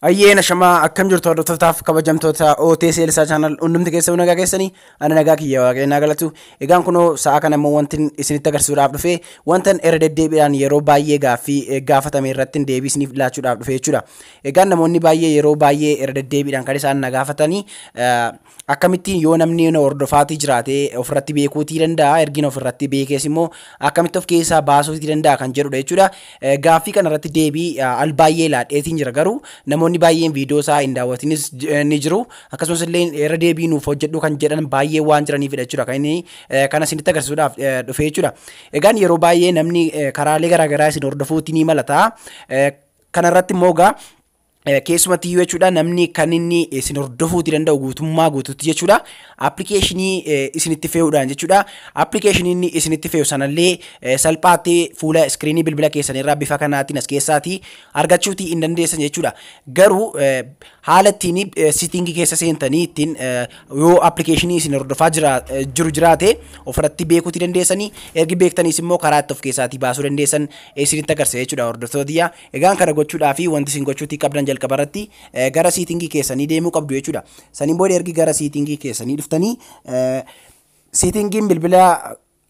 Ayyeen ashamaa akkam jirtu hordoftotaaf kabajamtoota OTS Elsaa Channel hundumti keessa nagaa keessanii ani nagaa kiyya waaqayyoo galatu egaan kunoo sa'a kana immoo wantin isinitti agarsiisuudhaaf dhufe wantan irra deddeebiidhaan yeroo baay'ee gaaffii gaafatame irratti deebii isiniif laachuudhaaf dhufe jechuudha. Egaa namoonni baay'ee yeroo baay'ee irra deddeebiidhaan kan isaan na gaafatani akkamittiin yoo namni na hordofaatii jiraate ofirratti beekuutii danda'a ergin ofirratti beekees immoo akkamitti of keessaa baasuutii danda'a kan jedhudha jechuudha. Eh, Gaaffii kana irratti deebii ah, al baay'ee laadheetiin jira garuu namoonni baay'een viidiyoo isaa hin daawwatinis j- eh, ni jiru akkasumas illee irra deebii nuuf hojjedhu kan jedhan baay'ee waan jiraniifidha jechuudha kan inni eh, kana isinitti agarsiisuudhaaf eh, dhufe jechuudha. Egaan yeroo baay'ee namni eh, karaalee garaagaraa isin hordofuutii ni malata. Eh, Kana irratti immoo egaa keessumatti iyyuu jechuudha namni kan inni isin hordofuuti danda'u guutummaa guutuutti jechuudha appilikeeshinii isinitti fe'uudhaan jechuudha appilikeeshinii inni isinitti fe'u sanallee salphaatti fuula iskiriinii bilbila keessanirraa bifa kanaatiin as keessaati argachuuti hin dandeessan jechuudha garuu haala ittiin sitting keessa seentanii ittiin yoo appilikeeshinii isin hordofaa jiru jiraate ofirratti beekuuti dandeessanii ergi beektaniis immoo karaa itti of keessaatii baasuu dandeessan isinitti agarsiisa jechuudha hordoftoota tiyyaa egaan kana gochuudhaa fi wanti isin gochuutii qabdan jalqaba irratti gara siitingii keessanii deemuu qabdu jechuudha saniin booda ergi gara siitingii keessanii dhuftanii siitingiin bilbila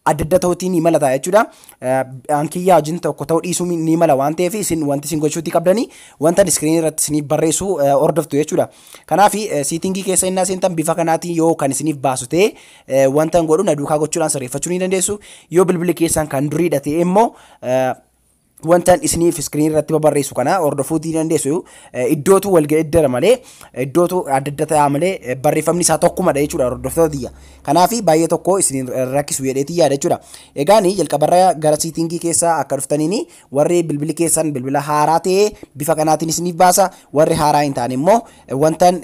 adda adda ta'uutii ni mala ta'a jechuudha. An kiyyaa wajjin tokko ta'uu dhiisuu ni mala waan ta'eef isin wanti isin gochuutii qabdanii wanta iskiriinii irratti isiniif barreessu hordoftu jechuudha. Kanaaf siitingii keessa innaa seentan bifa kanaatiin yoo kan isiniif baasu ta'e wanta hin godhu na duukaa gochuudhaan sirreeffachuu ni dandeessu. Yoo bilbilli keessan kan duriidha ta'e immoo wantan isiniif iskiriin irratti babarreessu kana hordofuu ni dandeessu iddootu wal geeddara malee iddootu adda adda ta'a malee barreeffamni isaa tokkumadha jechuudha hordoftoota tiyya kanaaf baay'ee tokko isin rakkisu jedheetii yaada jechuudha egaan jalqabarra gara siitingii keessa akka dhuftaniin warri bilbili keessan bilbila haaraa ta'e bifa kanaatiin isiniif baasa warri haaraa hin taane immoo wantan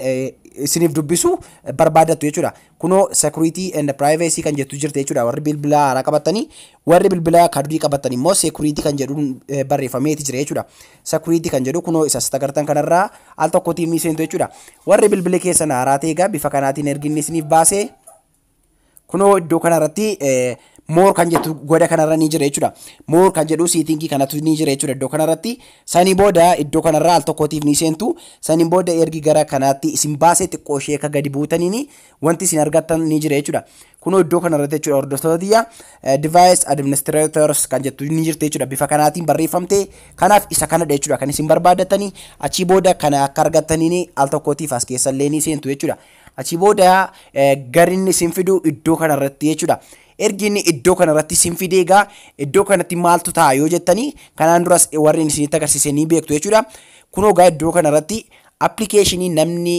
isiniif dubbisu barbaadattu jechuudha Kunoo security and privacy kan jettu jirti jechuudha warri bilbilaa haaraa qabattanii warri bilbilaa ka durii qabattan immoo security kan jedhu eh, barreeffameeti jira jechuudha security kan jedhu kunoo isa sita gartan kanarraa al tokkotiin ni seentu jechuudha warri bilbili keessan haaraa ta'e egaa bifa kanaatiin erginni isiniif baasee kunoo iddoo kanarratti eh, More kan jettu goda kanarra ni jira jechuudha. More kan jedhu seetingii kanatu ni jira jechuudha iddoo kanarratti. Sanii booda iddoo kanarraa al tokkootiif ni seentu. Saniin booda ergi gara kanaatti isin baasee xiqqoo ishee akka gadi buutaniin wanti isin argattan ni jira jechuudha. Kunoo iddoo kanarratti jechuudha hordoftoota tiyya device administrators kan jettu ni jirti jechuudha. Bifa kanaatiin barreeffamte. Kanaaf isa kanadha jechuudha kan isin barbaaddatanii achii booda kana akka argattaniin al tokkootiif as keessallee ni seentu jechuudha. Achii booda gar inni isin fidu iddoo kanarratti jechuudha. Ergi inni iddoo kanarratti isin fidee egaa iddoo kanatti maaltu ta'a yoo jettanii kanaan duras warri inni isinitti agarsiise ni beektu jechuudha. Kunoo egaa iddoo kanarratti appilikeeshinii namni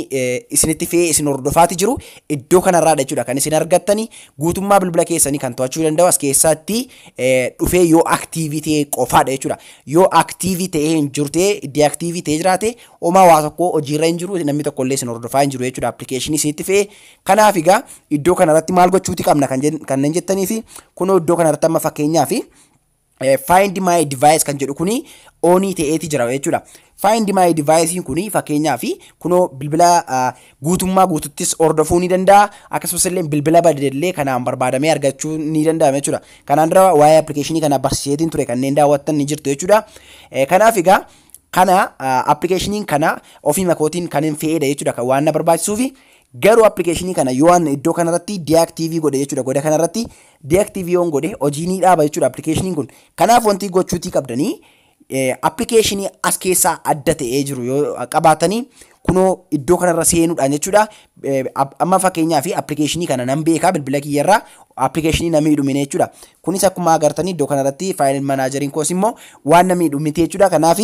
isinitti fe'ee isin hordofaati jiru iddoo kanarraadha jechuudha kan isin argattani guutummaa bilbila keessanii kan to'achuu danda'u as keessatti dhufee yoo aktiivii ta'e qofaadha jechuudha. Yoo aktiivii ta'ee hin jiru ta'e deaktiivii ta'ee jiraate Homaa waa tokko hojiirra hin jiru namni tokko illee isin hordofaa hin jiru jechuudha appilikeeshinii isinitti fe'ee kanaaf egaa iddoo kanarratti maal gochuuti qabna kan jen- kanneen jettanii fi kunoo iddoo kanarratti amma fakkeenyaa fi eh, find my device kan jedhu kuni onii ta'eeti jira jechuudha. Find my device kuni fakkeenyaa fi kunoo bilbila ah, guutummaa guututtis hordofuu ni danda'a akkasumas illee bilbila badeellee kanaan barbaadamee argachuu ni danda'ama jechuudha. Kanaan dura waa'ee appilikeeshinii kana barsiiseetiin ture kanneen daawwattan ni jirtu jechuudha. Eh, Kanaaf egaa Kana appilikeeshiniin kana ofiima kootiin kan hin fe'eedha jechuudha kan waan na barbaachisuufi garuu appilikeeshinii kana yoo an iddoo kanarratti deactive godhe jechuudha goda kanarratti deactive yoon godhe hojii ni dhaaba jechuudha appilikeeshiniin kun kanaaf wanti gochuutii qabdanii appilikeeshinii as keessaa adda ta'ee jiru yoo qabaatanii kunoo iddoo kanarra seenuudhaan jechuudha. Amma fakkeenyaa fi appilikeeshinii kana nan beekaa bilbila kiyyarraa appilikeeshinii na miidhu mine jechuudha. Kunis akkuma agartanii iddoo kanarratti faayil manaajeriin koos immoo waan na miidhu miti jechuudha. Kanaaf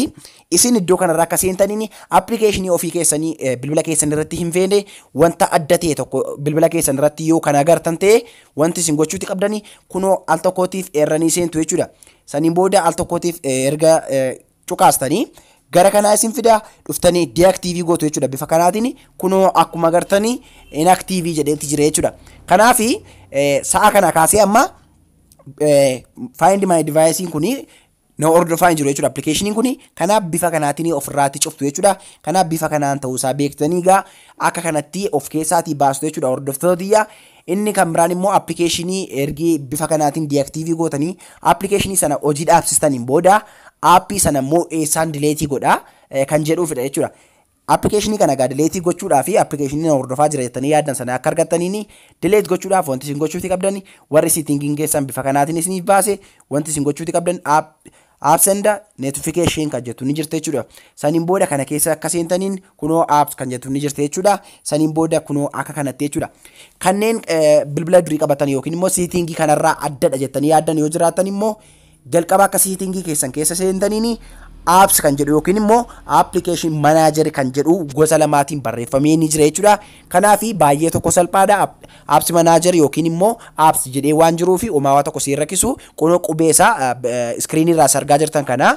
isin iddoo kanarraa akka seentaniin appilikeeshinii ofii keessanii bilbila keessan irratti hin feene wanta adda ta'e tokko bilbila keessan irratti yoo kan agartan ta'e wanti isin gochuuti qabdanii kunoo al tokkootiif eerranii seentu jechuudha. Saniin booda al tokkootiif erga cuqaastanii gara kanaa isin fida dhuftanii deactive gootu jechuudha bifa kanaatiin kunoo akkuma agartanii inactive jedheetti jira jechuudha kanaaf sa'a kana kaasee amma find my device kun na hordofaa hin jiru jechuudha appilikeeshiniin kun kanaaf bifa kanaatiin ofirraatti cuftu jechuudha kanaaf bifa kanaan ta'uusaa beektanii egaa akka kanatti of keessaatii baastu jechuudha hordoftoota tiyya Inni kan biraan immoo appikeeshinii ergi bifa kanaatiin diaktiivii gootanii appikeeshinii sana hojii dhaabsistaniin booda aappii sana immoo eessaan dileetii godha kan jedhuufidha jechuudha. Appikeeshinii kana egaa dileetii gochuudhaa fi appikeeshinii na hordofaa jira jettanii yaaddan sana akka argattaniin dileet gochuudhaaf wanti isin gochuuti qabdan warri siitingiin keessan bifa kanaatiin isiniif baase wanti isin gochuuti qabdan Apps and notification kan jettu ni jirti jechuudha. Saniin booda kana keessa akka seentaniin kunoo apps kan jettu ni jirti jechuudha. Saniin booda kunoo akka kanatti jechuudha. Kanneen bilbila durii qabatan yookiin immoo siitingii kanarraa addadha jettanii yaaddan yoo jiraatan immoo jalqaba akka siitingii keessan keessa seentaniin apps kan jedhu yookiin immoo application manager kan jedhu gosa lamaatiin barreeffamee ni jira jechuudha. Kanaafi baay'ee tokko salphaadha app apps manager yookiin immoo apps jedhee waan jiruufi homaa waa tokko si hin rakkisu kunoo qubee isaa screen irraa isa argaa jirtan kana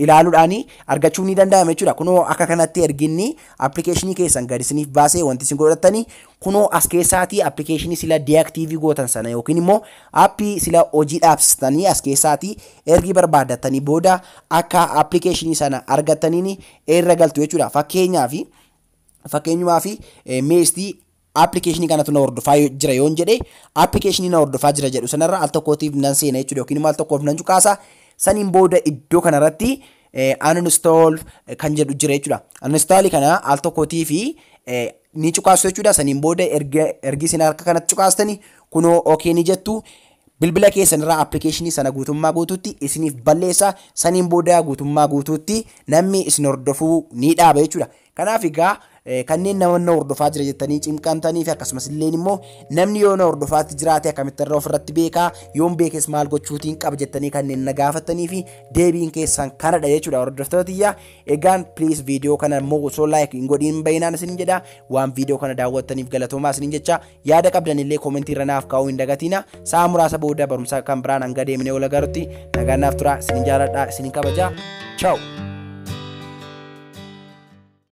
ilaaluudhaan argachuun ni danda'ama jechuudha kunoo akka kanatti erginni application keessan gadi isiniif baasee wanti isin godhattani kunoo as keessaatii application sila deactive gootan sana yookiin immoo appii sila hojii dhaabsistanii as keessaatii ergi barbaaddatanii booda akka application sana argattaniin irra galtu jechuudha fakkeenyaaf fakkeenyumaafi meestii appilikeeshinii kanatu na hordofaa jira yoon jedhe appilikeeshinii na hordofaa jira jedhu sanarra al tokkootiif nan seena jechuudha yookiin immoo al tokkoof nan cuqaasa saniin booda iddoo kanarratti uninstall kan jedhu jira jechuudha. Uninstall kana al tokkootiif ni cuqaastu jechuudha saniin booda ergi isin harka kanatti cuqaastani kunoo ok ni jettu Bilbila keessan irraa application sana guutummaa guutuutti isiniif balleessa. Saniin booda guutummaa guutuutti namni isin hordofuu ni dhaaba jechuudha. Kanaaf egaa kanneen nama na hordofaa jira jettanii cimqamtanii fi akkasumas illee immoo namni yoo na hordofaatti jiraate akkamitti irra ofirratti beekaa yoon beekes maal gochuutiin qaba jettanii kanneen na gaafattanii fi deebiin keessan kanadha jechuudha hordoftoota tiyyaa egaan please viidiyoo kana immoo osoo like hin godhiin bayinaan isin jedha waan viidiyoo kana daawwattaniif galatoomaa isin jecha Yaada qabdan illee comment irra naaf kaa'uu hin dagatiina. Sa'a muraasa booda barumsa kan biraan hanga deemnee wal agarutti nagaan naaf turaa. Isin jaaladha, isin kabaja. Ciao!